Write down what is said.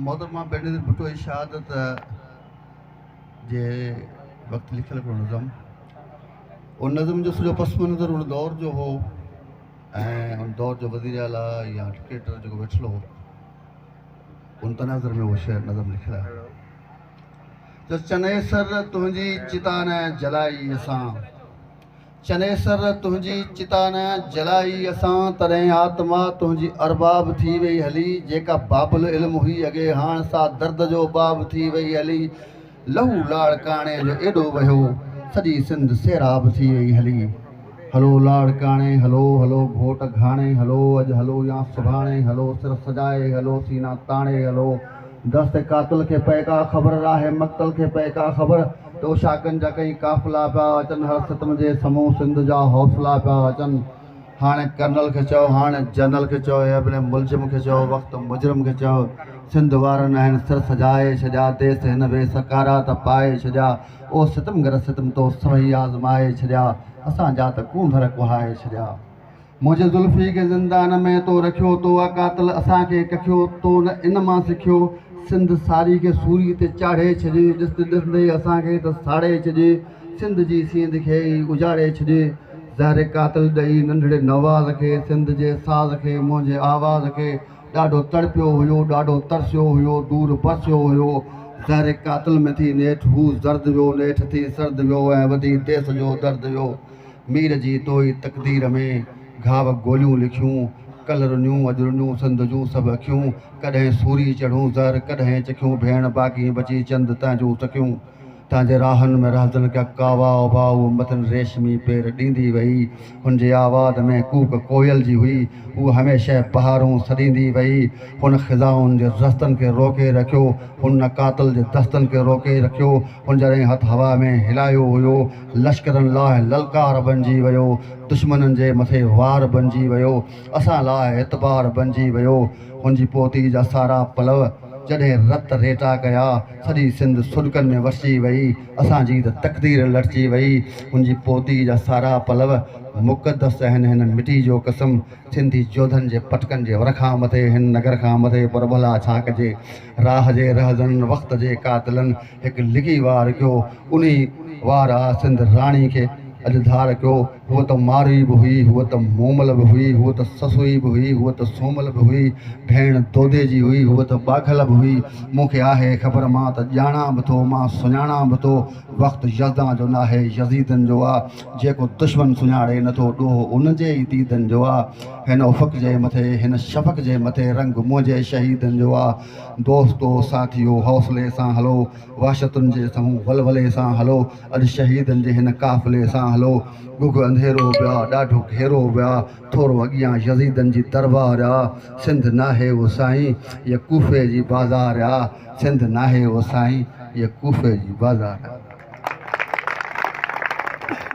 محترمه بينظير ڀٽو جي شهادت جي وقت لکيل هڪڙو نظم ان نظم جو سڄو پس منظر ان دور جو هو ۽ ان دور جو وزير اعليٰ يا ڊڪٽيٽر جيڪو ويٺل هو ان تناظر ۾ اهو شعر نظم لکيل آهي ته چنيسر تنهنجي چتان جلائي اسان چنيسر تنهنجي چتا نه جلائي اسان، تڏهن آتما تنهنجي ارباب ٿي وئي هلي، جيڪا باب العلم هئي اڳي، هاڻ سا درد جو باب ٿي وئي هلي، لهو لاڙڪاڻي جو ايڏو وهيو، سڄي سنڌ سيراب ٿي وئي هلي. هلو لاڙڪاڻي هلو، هلو گهوٽ گهاڻي هلو، اڄ هلو يا سڀاڻي هلو، سر سجائي هلو، سينا تاڻي هلو، دست قاتل کي پئي ڪا خبر، راهي مقتل کي پئي ڪا خبر، توشاڪن جا ڪئين قافلا پيا اچن هر ستم جي سمون سنڌ جا حوصلا پيا اچن هاڻي ڪرنل کي چئو هاڻي جنرل کي چئو اي ابن ملجم کي چئو وقت مجرم کي چئو سنڌ وارن آهن سر سجائي ڇڏيا ديس هن وي سڪارا ته پائي ڇڏيا او ستمگر ستم تو سوئي آزمائي ڇڏيا اسان جا ته ڪونڌر ڪهائي ڇڏيا. منهنجي زلفي کي زندان ۾ تو رکيو تو آ قاتل اسان کي ڪکيو تو نه ان مان سکيو سنڌ ساري کي سوري تي چاڙهي ڇڏي ڏسندي ڏسندي اسان کي ته ساڙي ڇڏي سنڌ جي سينڌ کي ئي اجاڙي ڇڏي زهر قاتل ڏئي ننڍڙي نواز کي سنڌ جي ساز کي منهنجي آواز کي ڏاڍو تڙپيو هيو ڏاڍو ترسيو هيو دور پرسيو هيو زهر قاتل ۾ ٿي نيٺ هو زرد ويو نيٺ ٿي سرد ويو ۽ وڌي ديس جو درد ويو مير جي توئي تقدير ۾، گهاو گوليون لکيون، ڪل رنيون اڄ رنيون سنڌ جون سڀ اکيون، ڪڏهن سوري چڙهون زهر ڪڏهن چکيون، ڀيڻ باغين بچي چند تنهنجون سکيون، تنهنجي راهن ۾ رهزن ڪيا ڪاوا ابا هو مٿن ريشمي پير ڏيندي وئي، هن جي آواز ۾ ڪوڪ ڪوئل جي هئي، هوء هميشه بهارون سڏيندي وئي، هن خزائن جي رستن کي روڪي رکيو، هن قاتل جي دستن کي روڪي رکيو، هن جڏهن هٿ هوا ۾ هلايو هيو، لشڪرن لاهه للڪار بنجي ويو، دشمنن جي مٿي وار بنجي ويو، اسان لاهه اعتبار بنجي ويو، هن جي پوتي جا سارا پلؤ جڏهن رت ريٽا ڪيا، سڄي سنڌ سڏڪن ۾ وسجي وئي، اسان جي ته تقدير لٽجي وئي، هن جي پوتي جا سارا پلؤ مقدس اهن هن مٽي جو قسم، سنڌي جوڌن جي پٽڪن جي ور کان مٿي هن نگر کان مٿي پر ڀلا ڇا ڪجي، راهه جي رهزنن وقت جي قاتلن. هڪ لڳي وار ڪيو، انهي وار آ سنڌ راڻي کي اڄ ڌار ڪيو، هوء ته ماروئي به هئي، هوء ته مومل به هئي، هوء ته سسئي به هئي، هوء ته سومل به هئي، ڀيڻ دودي جي هئي، هوء ته ٻاگهل به هئي، مون کي آهي خبر مان ته ڄاڻان به ٿو، مان سڃاڻان به ٿو، وقت يزدان جو ناهي، يزيدن جو آ، جيڪو دشمن سڃاڻي نه ٿو، ڏوهه ان جي ئي ديدن جو آ، هن افق جي مٿي، هن شفق جي مٿي، رنگ منهنجي شهيدن جو آ. دوستو ساٿيو حوصلي سان هلو وحشتن جي سنهون ولولي سان هلو اڄ شهيدن جي هن قافلي سان هلو ڳگهه انڌيرو ويا ڏاڍو گهيرو ويا ٿورو اڳيان يزيدن جي دربار آ سنڌ ناهي او سائين هيء ڪوفي جي بازار آ سنڌ ناهي او سائين هيء ڪوفي جي بازار آ.